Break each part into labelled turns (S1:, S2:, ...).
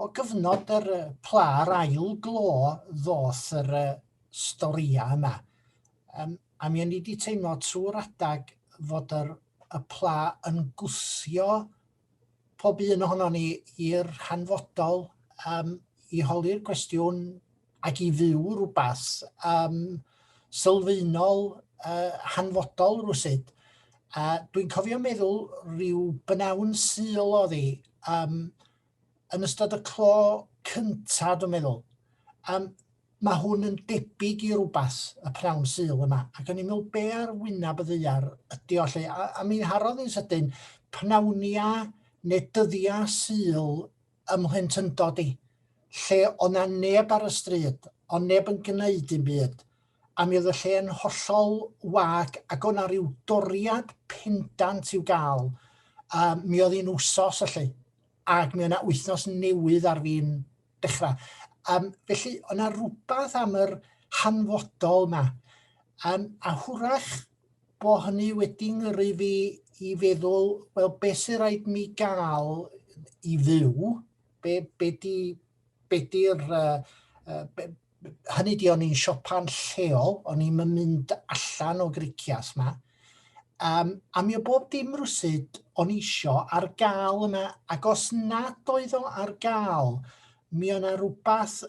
S1: o gyfnod yr yy pla a'r ail glo ddoth yr yy storïa yma. Yym a mi o'n i 'di teimlo trwy'r adag fod yr y pla yn gwthio pob un ohonon ni i'r hanfodol yym i holi'r cwestiwn ac i fyw rhywbeth um, sylfaenol, uh, hanfodol rhywsyd. A dwi'n cofio meddwl rhyw bynawn syl o ddi um, yn ystod y clo cynta, dwi'n meddwl. Um, mae hwn yn debyg i rhywbeth y prawn syl yma. Ac o'n i'n meddwl be ar wyneb y ddeiar ydy o lle. A, a mi'n harodd yn sydyn, pnawnia neu dyddiau syl ym mhlentyndod i, lle o' 'na neb ar y stryd, o' neb yn gneud dim byd, a mi oedd y lle yn hollol wag ac o' 'na ryw doriad pendant i'w gael, a mi oedd hi'n wsos felly, ac mi oedd 'na wythnos newydd ar fin dechrau. Um, felly, o'na rhywbeth am yr hanfodol yma. Um, a hwrach, bo hynny wedi ngyrru fi i feddwl, wel, beth sy'n rhaid mi gael i fyw? Be, be di, be di'r, uh, be, hynny di o'n i'n siopa'n lleol, o'n i'n mynd allan o gricias ma. Um, a mi o bob dim rwsyd o'n isio ar gael yna, ac os nad oedd o ar gael, Mi oedd yna rhywbeth,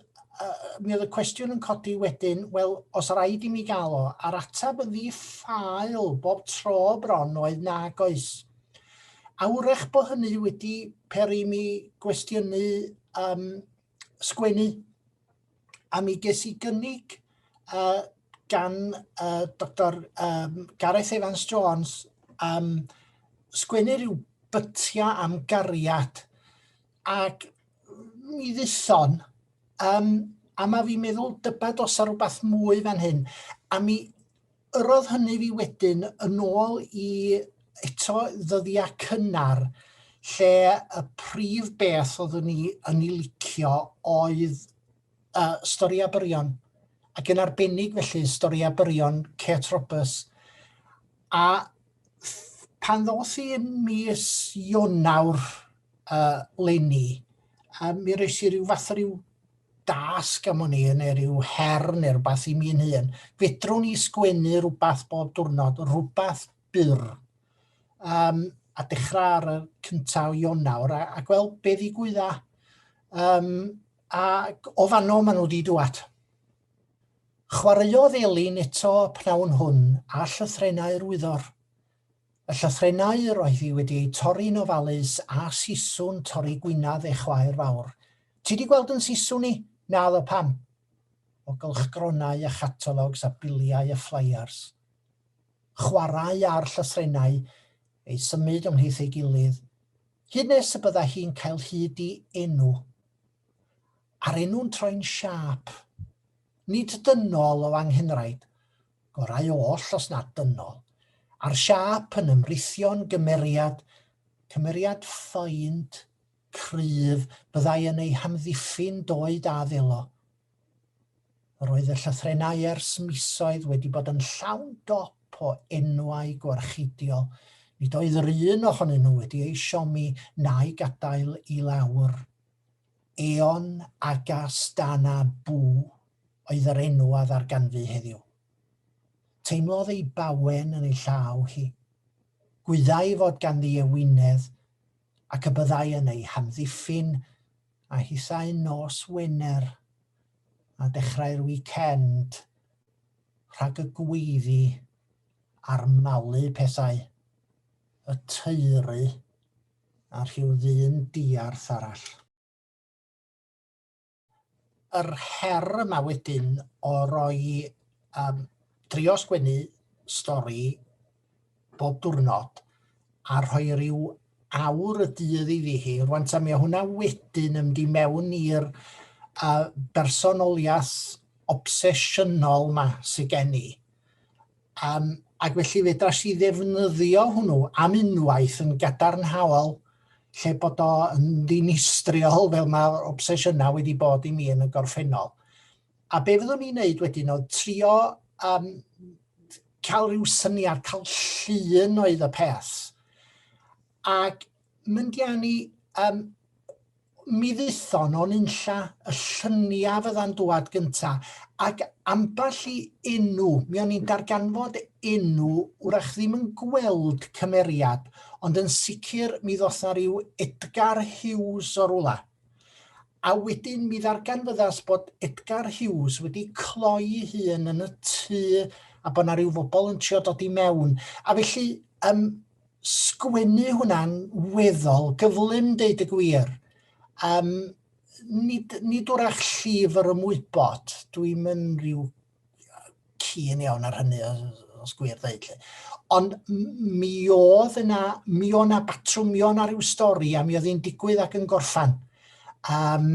S1: mi oedd y cwestiwn yn codi wedyn, wel, os rhaid i mi gael o, a'r atab yn ddi-ffael bob tro bron oedd nag oes. Awrech bod hynny wedi peri mi gwestiynu um, sgwennu, a mi ges i gynnig uh, gan uh, Dr um, Gareth Evans Jones um, sgwennu rhyw bytia am gariad Ac mi dduthon, um, a mae fi'n meddwl dybad os ar rhywbeth mwy fan hyn, a mi yrodd hynny fi wedyn yn ôl i eto ddyddiau cynnar lle y prif beth oeddwn ni yn ei licio oedd uh, stori a byrion, ac yn arbennig felly stori a byrion Kate Roberts. A pan ddoth i yn mis Ionawr uh, lenni, a mi roes i ryw fath o ryw dasg am o'n i, neu ryw her neu rhywbeth i mi'n hun. Fedrwn i sgwennu rhywbeth bob diwrnod, rhywbeth byr. Um, a dechrau ar y cyntaf o Ionawr, a, a gweld be ddigwydda. Um, a o fanno maen nhw wedi dŵad. Chwaraeodd Elin eto y pnawn hwn â llythrennau'r wyddor. Y llythrennau yr oedd hi wedi eu torri'n ofalus a siswrn torri gwinadd ei chwaer fawr. Ti 'di gweld yn siswrn i? Naddo, pam? O gylchgronau a chatalogs a biliau a fflaiars. Chwarae â'r llythrennau, eu symud ymhlith ei gilydd, hyd nes y bydda hi'n cael hyd i enw. a'r enw'n troi'n siâp. Nid dynol o anghynraid, gorau oll os nad dynol, a'r siâp yn ymrithio'n gymeriad, cymeriad ffynd, cryf, byddai yn ei hamddiffyn doed a ddelo. Yr oedd y llythrennau ers misoedd wedi bod yn llawn dop o enwau gwarchidiol, nid oedd yr un ohonyn nhw wedi ei siomi na'i gadael i lawr. Eon Agas Dana Bu oedd yr enw a ddarganfu heddiw. Teimlodd ei bawen yn ei llaw hi. Gwyddai fod ganddi ewinedd ac y byddai yn ei hamddiffyn a hithau nos Wener a dechrau'r wicend rhag y gweiddi a'r malu pethau y teulu A rhyw ddyn diarth arall. Yr her yma wedyn o roi, um, drio sgwennu stori bob diwrnod a rhoi rhyw awr y dydd i fi hi. Rwan ta mi o hwnna wedyn yn mynd i mewn i'r uh, bersonoliaeth obsesiynol yma sydd gen i. Um, ac felly fedras i ddefnyddio hwnnw am unwaith yn gadarnhaol lle bod o yn ddinistriol fel mae'r obsesiynau wedi bod i mi yn y gorffennol. A be fyddwn ni'n neud wedyn oedd trio um, cael rhyw syniad, cael llun oedd y peth. Ac Mynd i anni, um, mi dduthon o'n unlla y llyniau fydda'n dwad gynta, ac ambell i enw, mi o'n i'n darganfod enw, wrach ddim yn gweld cymeriad, ond yn sicr mi ddoth na rhyw Edgar Hughes o rwla. A wedyn mi ddarganfyddas bod Edgar Hughes wedi cloi hun yn y tŷ a bod na rhyw fobl yn trio dod i mewn. A felly, um, sgwennu hwnna'n weddol gyflym, deud y gwir. Um, nid, nid wrach llyfr ymwybod, dwi'n mynd rhyw cyn iawn ar hynny, os gwir ddeud. Ond mi oedd yna, mi oedd yna batrwmion ar ryw stori a mi oedd hi'n digwydd ac yn gorffan. Um,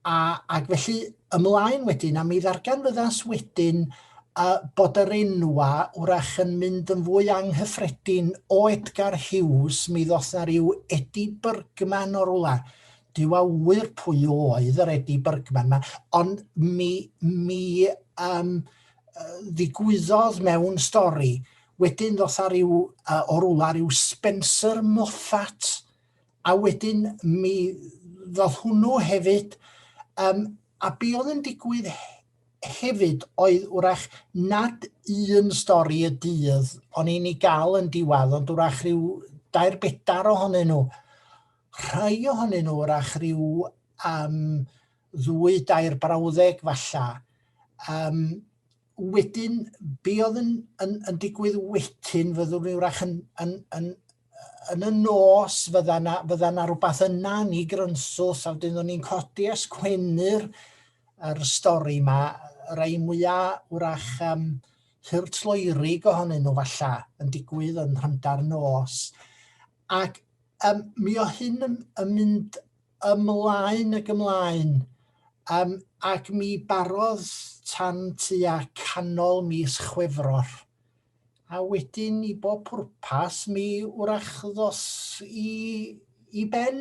S1: A, ac felly ymlaen wedyn, a mi ddarganfyddas wedyn uh, bod yr enwa wrach yn mynd yn fwy anghyffredin o Edgar Hughes, mi ddoth na rhyw Eddie Bergman o'r wla. Dyw a wyr pwy oedd yr Eddie Bergman yma, ond mi, mi um, ddigwyddodd mewn stori, wedyn ddoth a rhyw, uh, o'r wla rhyw Spencer Moffat, A wedyn mi ddoth hwnnw hefyd, um, a be oedd yn digwydd hefyd oedd wrach nad un stori y dydd o'n i'n ei gael yn diwadd, ond wrach rhyw dair bedar ohonyn nhw. Rhai ohonyn nhw wrach rhyw um, ddwy dair brawddeg falla. Um, wedyn, be oedd yn, yn, yn digwydd wedyn, fyddwn ni wrach yn, yn, yn, yn y nos, fydda na, fydda na rhywbeth yna ni grynsws, a wedyn o'n ni'n codi a sgwennu'r er stori yma, rai mwyaf wrach um, hyrtloerig ohonyn nhw falla yn digwydd yn rhymda'r nos. Ac um, mi o hyn yn, yn mynd ymlaen ac ymlaen, um, ac mi barodd tan tua canol mis Chwefror. A wedyn i bob pwrpas mi wrach ddos i, i ben,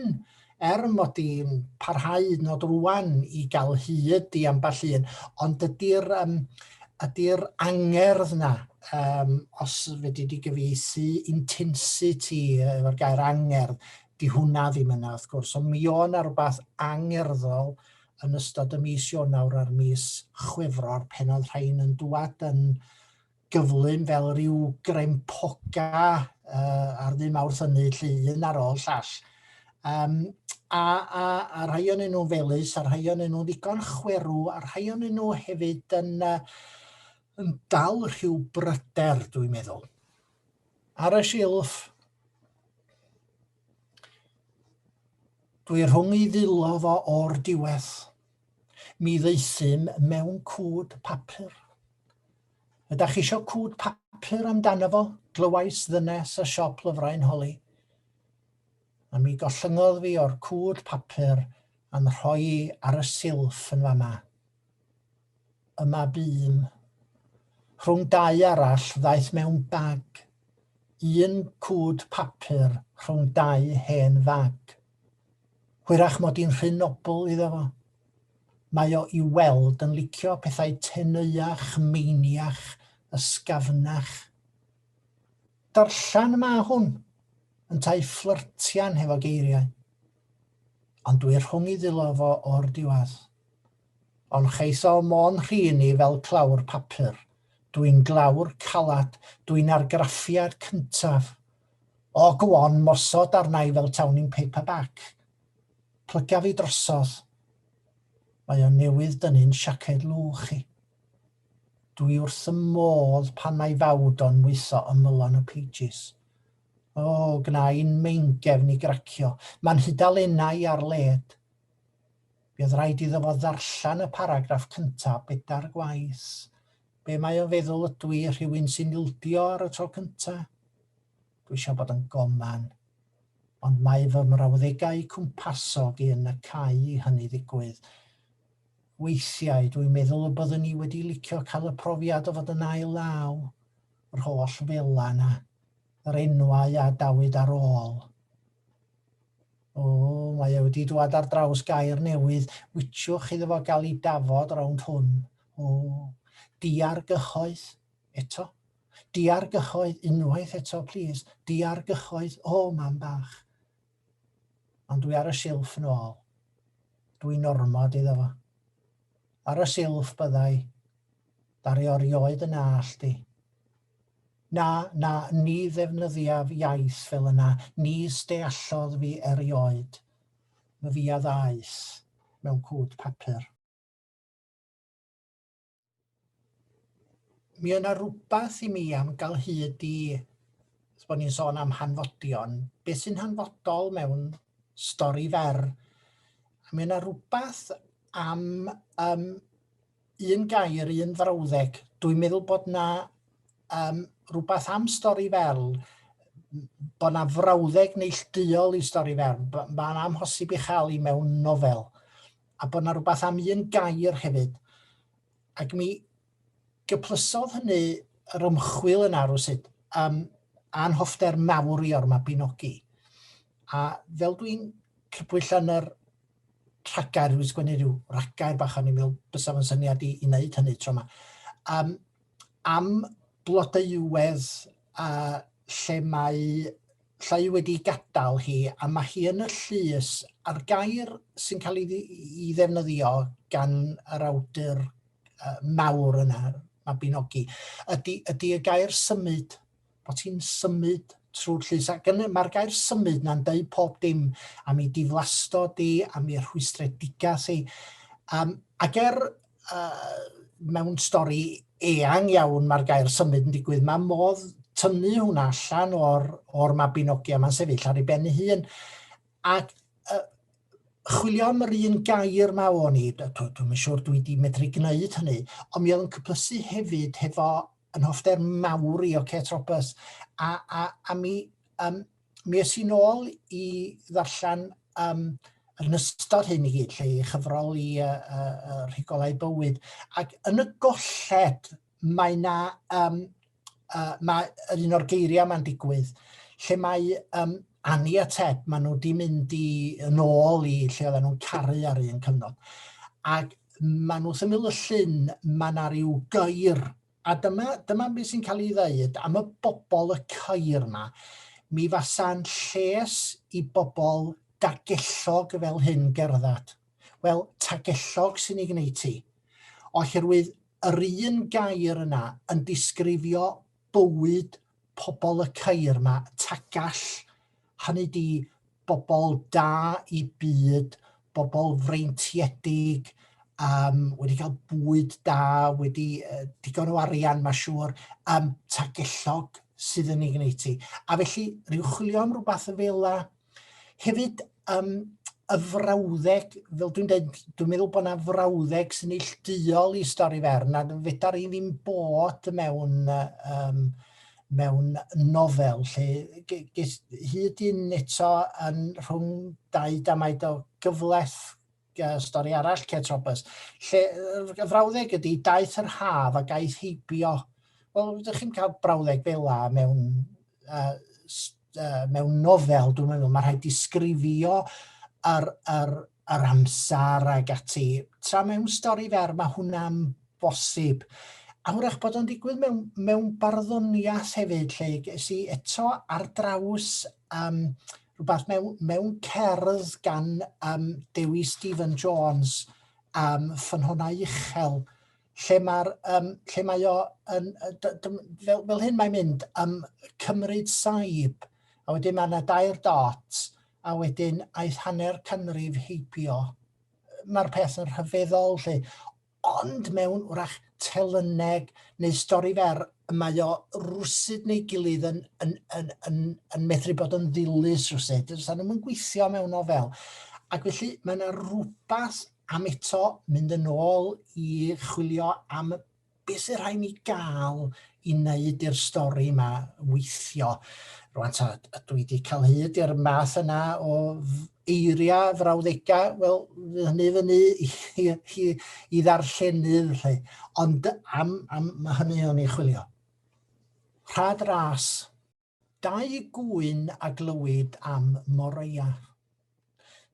S1: er mod i'n parhau nod rwan i gael hyd i ambell un, ond ydy'r um, ydy angerdd na, um, os fedri di gyfeithi intensity efo'r gair angerdd, Di hwnna ddim yna wrth gwrs, ond mi o' yna rhywbeth angerddol yn ystod y mis Ionawr a'r mis Chwefror pen oedd rhain yn dŵad yn gyflym fel rhyw grempoga uh, ar ddim awrth hynny, lle un ar ôl llall. Um, a, a, a rhai o'n nhw'n felus, a rhai o'n nhw'n ddigon chwerw, a rhai o'n nhw hefyd yn, uh, yn dal rhyw bryder, dwi'n meddwl. Ar y silff. Dwi rhwng i ddillo fo o'r diwedd. Mi ddeithum mewn cwd papur. Ydach chi isio cwd papur amdano fo? Glywais ddynes y siop lyfrau'n holi. A mi gollyngodd fi o'r cwd papur a'n rhoi ar y silff yn fama. Y mab un. Rhwng dau arall ddaeth mewn bag. Un cwd papur rhwng dau hen fag. Hwyrach mod i'n rhy nobl iddo fo. Mae o i'w weld yn licio pethau teneuach, meiniach, ysgafnach. Darllen y ma hwn! Yntau fflyrtian hefo geiriau. Ond dwi rhwng i ddilo fo o'r diwadd. Ond cheisal mo'n rhin i fel clawr papur. Dwi'n glawr calad, dwi'n argraffiad cyntaf. O, go on, mosod arna i fel tawn i'n paperback. Plyga fi drosodd. Mae o newydd dynnu'n siaced lwch i. Dwi wrth 'y modd pan mae fawd o'n mwyllo ymylon y pages. O, gna i'n meingefn i gracio. Mae'n hudalennau ar led. Bydd rhaid iddo fo ddarllen y paragraff cyntaf bedair gwaith. Be mae o'n feddwl ydw i, rhywun sy'n ildio ar y tro cyntaf? Dwi eisiau bod yn goman. Ond mae fy mrawddegau cwmpasog i yn y cau i hynny ddigwydd. Weithiau, dwi'n meddwl y byddwn i wedi licio cael y profiad o fod yn ail law. Yr holl fela 'na. yr enwau a dawyd ar ôl. O, mae e wedi dwad ar draws gair newydd, wiciwch iddo fo gael ei dafod rownd hwn. O, diargyhoedd, eto. Diargyhoedd, unwaith eto, plîs. Diargyhoedd, o, mam bach. Ond dwi ar y silff yn ôl. Dw i'n ormod iddo fo. Ar y silff byddai. Ddaru o rioed yn nallt i. Na, na, ni ddefnyddiaf iaith fel yna, nis deallodd fi erioed. Myfia ddaeth mewn cwd papur. Mi yna rhywbeth i mi am gael hyd i, os bod ni'n sôn am hanfodion, beth sy'n hanfodol mewn stori fer. A mi yna rhywbeth am um, un gair, un frawddeg. Dwi'n meddwl bod na um, rhywbeth am stori fel bod na frawddeg neillduol i stori fer. Mae'n amhosib i chael i mewn nofel. a bod 'na rhywbeth am un gair hefyd. Ac mi gyplysodd hynny yr ymchwil yna rwysut, um, a'n hoffter mawr i o'r Mabinogi. A fel dwi'n crybwyll yn yr rhagair, dwi'n sgwennu rhyw rhagair bach o'n i'n meddwl bysaf yn syniad i, i wneud hynny tro yma. Um, am blodeuwedd a lle mae llai wedi gadael hi a mae hi yn y llys a'r gair sy'n cael ei, ei ddefnyddio gan yr awdur uh, mawr yna, Mabinogi, ydy, ydy y gair symud, bod hi'n symud trwy'r llys. Ac mae'r gair symud na'n dweud pob dim am ei diflastod i, am ei rhwystredigaeth i. Um, ac er mewn stori eang iawn mae'r gair symud yn digwydd. Mae modd tynnu hwnna allan o'r, or mabinogi a mae'n sefyll ar ei ben ei hun. Ac uh, chwilio am yr un gair mae o'n i, dwi'n siŵr dwi wedi medru gwneud hynny, ond mi oedd yn cyplysu hefyd hefo yn hoffder mawr i o Kate Roberts, a, a, a mi um, mi es i'n ôl i ddarllen um, yn ystod hyn i gyd, lle i chyfrol i uh, uh, rhigolau bywyd. Ac yn y golled, mae na, um, uh, mae yr un o'r geiriau mae'n digwydd, lle mae um, Annie a Ted, maen nhw wedi mynd i, yn ôl i lle oedden nhw'n caru ar un cyfnod. Ac maen nhw symud y llun, mae yna rhyw gair A dyma, dyma beth sy'n cael ei ddeud am y bobl y ceir yma. Mi fasa'n lles i bobl dagellog fel hyn gerdded. Wel, tagellog sy'n ei gwneud ti. Oherwydd yr un gair yna yn disgrifio bywyd pobl y ceir yma, Tagall, hynny di bobl da i byd, bobl freintiedig, um, wedi cael bwyd da, wedi uh, digon o arian, mae siŵr, um, tagellog sydd yn ei gwneud ti. A felly, rhyw chwilio am rhywbeth y fel Hefyd, um, y frawddeg, fel dwi'n dweud, dwi'n meddwl bod yna frawddeg sy'n neillduol i stori fer, na fedar i ddim bod mewn, um, mewn nofel lle ges hyd yn eto yn rhwng dau damaid o gyfles uh, stori arall, Kate Roberts, lle y frawddeg ydy, daeth yr haf a gaeth heibio. Wel, ydych chi'n cael brawddeg fel la mewn, uh, uh, mewn nofel, dwi'n meddwl, mae rhaid disgrifio yr, yr, yr amser ag ati. Tra mewn stori fer, mae hwnna'n bosib. A hwrach bod o'n digwydd mewn, mewn barddoniaeth hefyd, lle sy'n eto ar draws um, rhywbeth mewn, mewn cerdd gan um, Dewi Stephen Jones, um, ffynhona uchel, lle, mae'r, um, lle mae o, yn, fel, fel hyn mae'n mynd, um, cymryd saib, a wedyn mae yna dair dot, a wedyn aeth hanner canrif heibio. Mae'r peth yn rhyfeddol lle. ond mewn wrach telyneg neu stori fer y mae o rwsud neu gilydd yn, yn, yn, yn, yn medru bod yn ddilys rwsud. Does nhw'n mynd gweithio mewn nofel. Ac felly mae yna rhywbeth am eto mynd yn ôl i chwilio am beth sy'n rhaid ni gael i wneud i'r stori yma weithio. Rwan ta, dwi wedi cael hyd i'r math yna o eiriau, frawddegau, wel, fydd hynny fyny i, i, i, i ddarllenydd, lle. Ond am, am mae hynny o'n ei chwilio. Rhad ras. Dau gŵyn a glywyd am Moreia.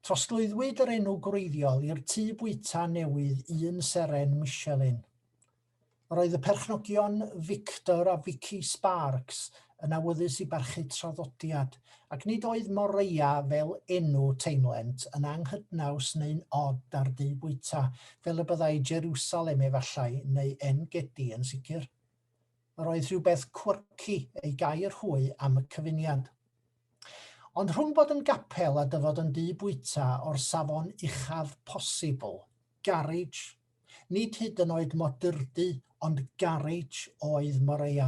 S1: Trosglwyddwyd yr enw gwreiddiol i'r tŷ bwyta newydd un seren Michelin. Roedd y perchnogion Victor a Vicky Sparks yn awyddus i barchu traddodiad, ac nid oedd Moreia fel enw teimlent yn anghydnaws neu'n od â'r du bwyta, fel y byddai Jerusalem efallai, neu En-gedi yn sicr. Yr oedd rhywbeth quirky ei gair hwy am y cyfuniad. Ond rhwng bod yn gapel a dyfod yn du bwyta o'r safon uchaf posibl, garage, Nid hyd yn oed modurdy ond garej oedd Moreia.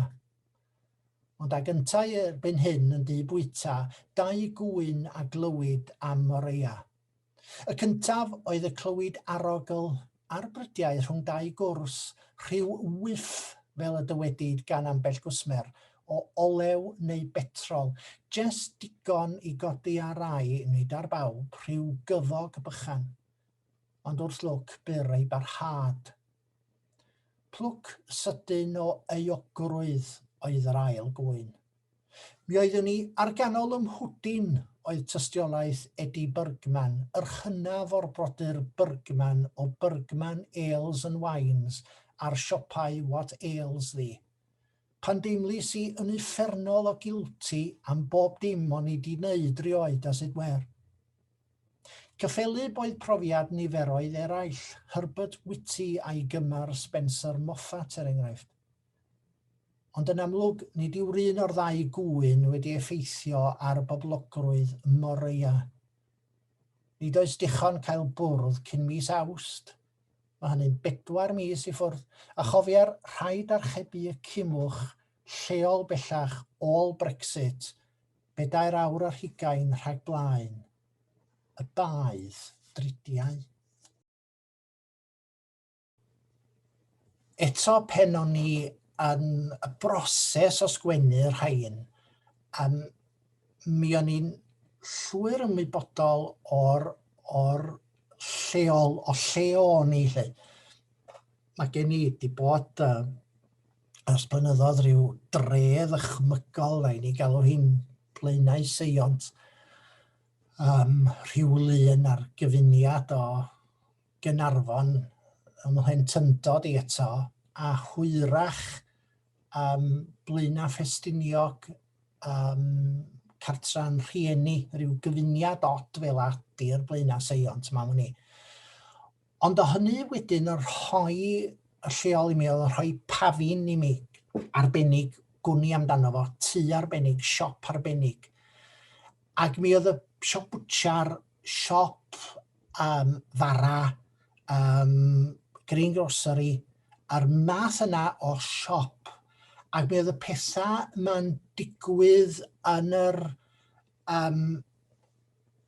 S1: Ond ag yntau erbyn hyn yn dŷ bwyta, dau gŵyn a glywid am Moreia. Y cyntaf oedd y clywid arogl ar brydiau rhwng dau gwrs, rhyw wyff, fel y dywedid gan ambell gwsmer, o olew neu betrol, jest digon i godi ar rai, nid ar bawb, rhyw gyfog bychan. ond wrth lwc byr ei barhad. Plwc sydyn o euogrwydd oedd yr ail gŵyn. Mi oeddwn ni ar ganol ym mhwdin oedd tystiolaeth Eddie Bergman, yr hynaf o'r brodyr Bergman o Bergman Ales and Wines a'r siopau What Ails Thee. Pan deimlis i yn uffernol o guilty am bob dim o'n i 'di neud rioed as it were. Cyffelyb oedd profiad niferoedd eraill, Herbert Whitty a'i gymar Spencer Moffat er enghraifft. Ond yn amlwg, nid yw'r un o'r ddau gŵyn wedi effeithio ar boblogrwydd Moreau. Nid oes dichon cael bwrdd cyn mis Awst, mae hynny'n bedwar mis i ffwrdd, a chofier, rhaid archebu y cimwch lleol bellach ôl Brexit Bedair awr ar hugain rhag blaen y baedd dridiau. Eto pen o'n ni yn y broses o sgwennu rhain, um, mi o'n i'n llwyr ymwybodol o'r, or lleol, o lle o'n i. Lle. Mae gen i wedi bod uh, Ers blynyddoedd rhyw dre ddychmygol, rhaid ni galw hi'n Blaenau Seiont, um, rhyw lun ar gyfuniad o Gynarfon ym mhlentyndod i eto, a hwyrach um, Blaenau Ffestiniog, um, cartran rhieni, rhyw gyfuniad od fel a di'r Blaenau Seiont, mae'n ni. Ond o hynny wedyn yn rhoi y lleol i mi oedd yn rhoi pafin i mi arbennig, gwn i amdano fo, tŷ arbennig, siop arbennig. Ac mi oedd y siop bwtsiar, siop um, fara, um, green grocery, a'r math yna o siop. Ac mi oedd y pethau mae'n digwydd yn yr um,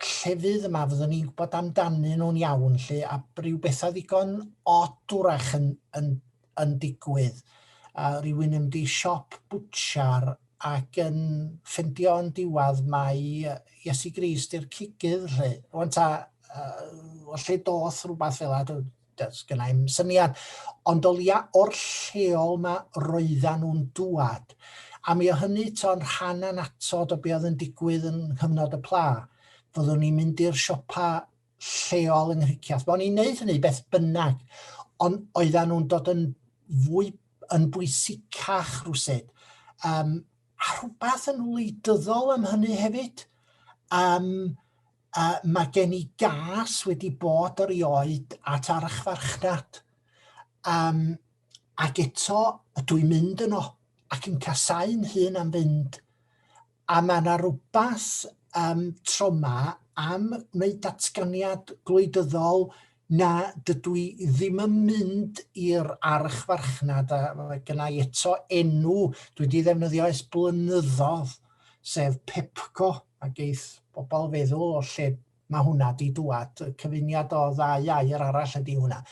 S1: llefydd yma fyddwn ni'n gwybod amdanyn nhw'n iawn lle a rhyw bethau ddigon od wrach yn, yn, yn digwydd. A rhywun yn mynd i siop bwtsiar ac yn ffendio yn diwedd mae Iesu Grist i'r cigydd lle. Rwan ta, uh, lle doth rhywbeth fel yna, does gen i'm syniad. Ond o leia o'r lleol ma roeddan nhw'n dŵad. A mi o hynny to'n rhan anatod o be oedd yn digwydd yn nghyfnod y pla. Fyddwn ni'n mynd i'r siopa lleol yng Nghriciath. Bo'n i'n neud hynny beth bynnag. Ond oeddan nhw'n dod yn fwy yn bwysicach rhywsyd. Um, a rhywbeth yn wleidyddol am hynny hefyd. Um, Uh, mae gen i gas wedi bod erioed at archfarchnad. Um, ac eto, ydw i'n mynd yno ac yn casau'n hun am fynd. A mae yna rhywbeth um, troma am wneud datganiad gwleidyddol Na, dydw i ddim yn mynd i'r archfarchnad, a mae gynna i eto enw dwi wedi ddefnyddio ers blynyddoedd, sef Pepco, a geith bobl feddwl o lle mae hwnna di dŵad, y cyfuniad o ddau air arall ydy hwnna.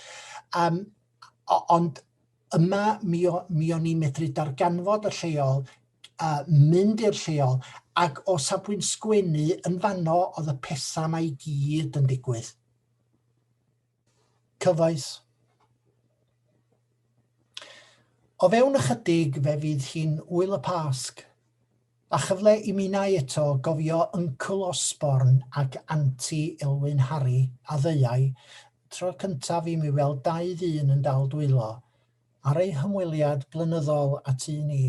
S1: Um, ond yma mi, o, mi o'n i'n medru darganfod y lleol, uh, mynd i'r lleol, ac o safbwynt sgwennu yn fanno oedd y pethau mae i gyd yn digwydd. Cyfoes. O fewn ychydig fe fydd hi'n Ŵyl y Pasg, a chyfle i minnau eto gofio Yncl Osborn ac Anti Elwyn Harri a ddeuai, Tro cyntaf i mi weld dau ddyn yn dal dwylo, ar eu hymweliad blynyddol a tu ni.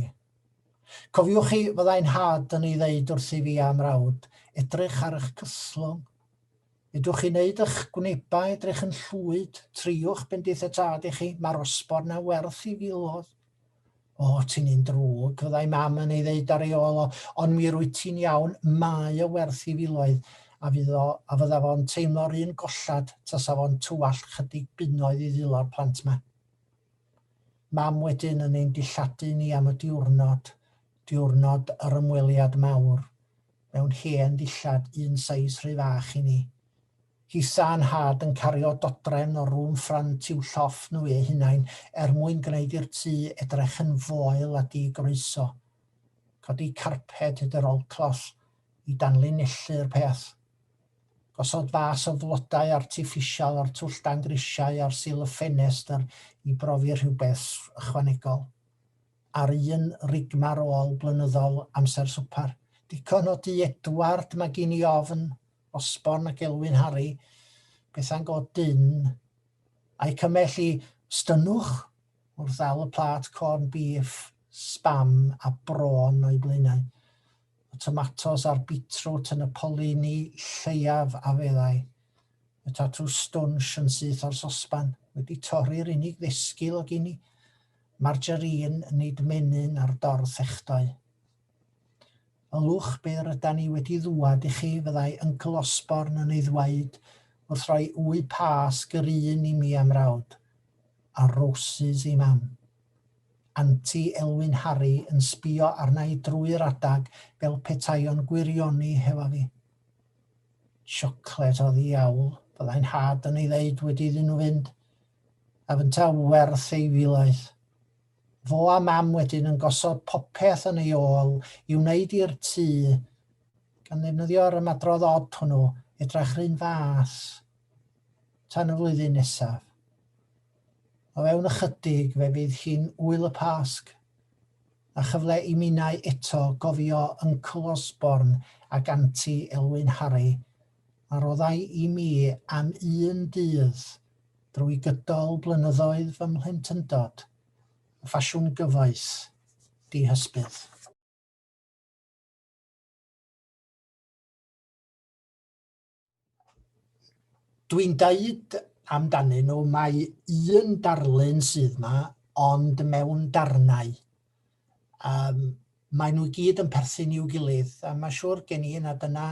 S1: Cofiwch chi, fyddai nhad yn ei ddeud wrthyf i a'm mrawd, edrych ar eich cyslwng. Ydwch chi'n neud ych gwnebau edrych yn llwyd? Triwch bendith y tad i chi, mae'r osbor na werth i filodd. O, ti'n un drwg, fyddai mam yn ei ddeud ar ei ôl o, ond mi rwyt ti'n iawn, mae o werth i filoedd, a fydd o, a fydda fo'n teimlo'r un gollad tasa fo'n tywallt chydig bunnoedd i ddilo'r plant ma. Mam wedyn yn ein dilladu ni am y diwrnod, diwrnod yr ymweliad mawr. mewn hen ddillad un seis rhy fach i ni. Hisa a nhad yn cario dodrefn o rŵm ffrynt i'w llofft nhw eu hunain er mwyn gwneud i'r tŷ edrych yn foel a di-groeso. Codi carped hyd yr olcloll i danlinellu'r peth. Gosod fas o flodau artiffisial o'r twll dan grisiau ar sil y ffenestr i brofi rhywbeth ychwanegol. ar un rigmar ôl blynyddol amser swpar. Dicon o du Edward, mae gen i ofn, Osborn ac Elwyn Harri, bethau'n go dyn, a'i cymell i stynnwch wrth ddal y plat corn beef, spam a bron o'i blaenau. Y tomatos a'r beetroot yn y polini lleiaf a feddai. y tatŵ stwnsh yn syth o'r sosban, wedi torri'r unig ddesgyl o gini, margarine, nid menyn ar dorth echdoe. O lwch byr yda ni wedi ddwad i chi, fyddai Uncle Osborne yn ei ddweud, wrth roi wy pas gryn i mi a mrawd. A roses i mam. Anti Elwyn Harry yn sbio arna i drwy'r adag fel petai o'n gwirioni hefo fi. Siocled o ddiawl, byddai nhad yn ei ddeud wedi iddyn nhw fynd, a fynta werth ei filoedd. Fo a mam wedyn yn gosod popeth yn ei ôl i wneud i'r tŷ, gan ddefnyddio'r ymadrodd od hwnnw, edrach r'un fath tan y flwyddyn nesaf. O fewn ychydig fe fydd hi'n Ŵyl y Pasg. A chyfle i minnau eto gofio Yncl Osborn ac Anti Elwyn Harry. Mae roddai i mi am un dydd, drwy gydol blynyddoedd fy mhlentyndod, yn ffasiwn gyfoes, dihysbydd. Dwi'n dweud amdanyn nhw, mae un darlun sydd yma, ond mewn darnau. Um, mae nhw gyd yn perthyn i'w gilydd, a mae siŵr gen i na dyna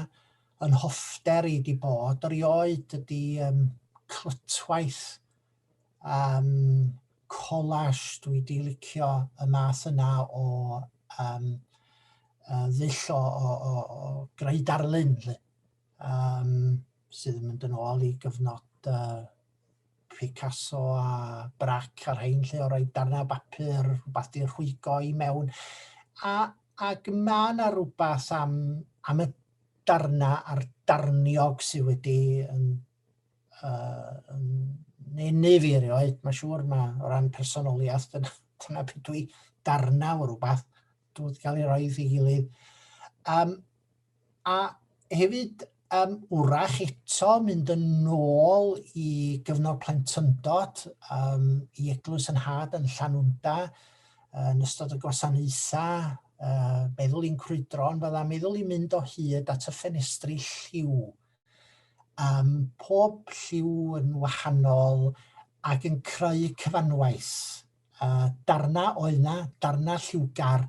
S1: yn hoffter i di bod. Rioed ydy um, clytwaith um, collage dwi di licio y math yna o um, ddull o, o, o, o greu darlun. Lle. um, sydd yn mynd yn ôl i gyfnod uh, Picasso a Brac ar hein lle o roi darnau bapur, rhywbeth di'r rhwygo i mewn. A, ac mae yna rhywbeth am, am y darnau a'r darniog sydd wedi yn, uh, yn nenu fi erioed. Mae siŵr mae o ran personoliaeth, dyna, dyna beth dwi darnau o rhywbeth. Dwi'n cael ei roi i gilydd. Um, A hefyd, um, wrach eto mynd yn ôl i gyfnod plentyndod, um, i eglwys yn had yn Llanwnda, yn ystod y gwasanaethau, uh, meddwl i'n crwydron, fydda meddwl i'n mynd o hyd at y ffenestri lliw. Um, pob lliw yn wahanol ac yn creu cyfanwaith. uh, darna o yna, darna lliwgar,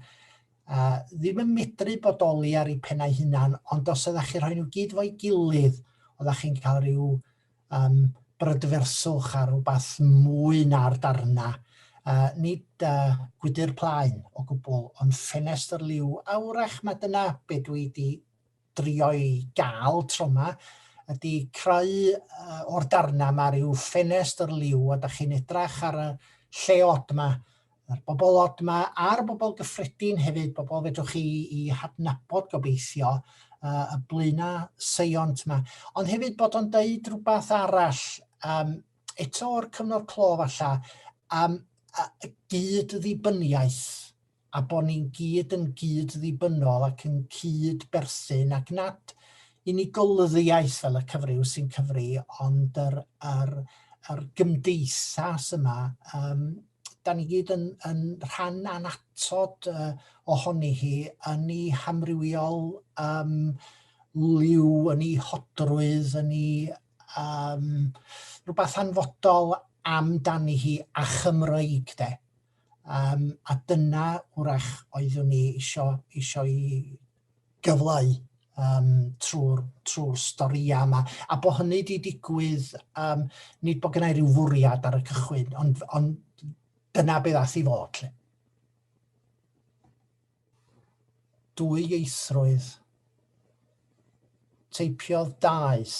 S1: uh, ddim yn medru bodoli ar ei pennau hunan, ond os ydych chi rhoi nhw gyd fo'i gilydd, oeddech chi'n cael rhyw um, brydferswch ar rhywbeth mwy na'r darna. Uh, nid uh, gwydr plaen o gwbl, ond ffenestr liw. Awrach mae dyna be dwi wedi drio'i gael tro yma ydy creu uh, o'r darna yma rhyw ffenest yr liw a da chi'n edrach ar y lle od yma, yr bobl od yma a'r bobl gyffredin hefyd, bobl fedrwch chi i hadnabod gobeithio uh, y blaena seiont yma. Ond hefyd bod o'n deud rhywbeth arall um, eto o'r cyfnod clo falla, um, gyd ddibyniaeth a bod ni'n gyd yn gyd-ddibynnol ac yn cyd-berthyn ac nad unigolyddiaeth fel y cyfryw sy'n cyfri ond yr, yr, yr gymdeithas yma, um, da ni gyd yn, yn rhan anatod uh, ohoni hi yn ei hamrywiol um, liw, yn ei hodrwydd, yn ei um, rhywbeth anfodol amdani hi a Chymreig de. Yym a dyna wrach oeddwn i isio isio i gyfleu yym trwy'r trwy'r storïau yma. A bod hynny wedi digwydd, yym nid bod gennau rhyw fwriad ar y cychwyn, ond ond dyna be ddaeth i fod 'lly. Dwyieithrwydd. Teipiodd daeth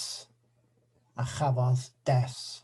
S1: a chafodd death.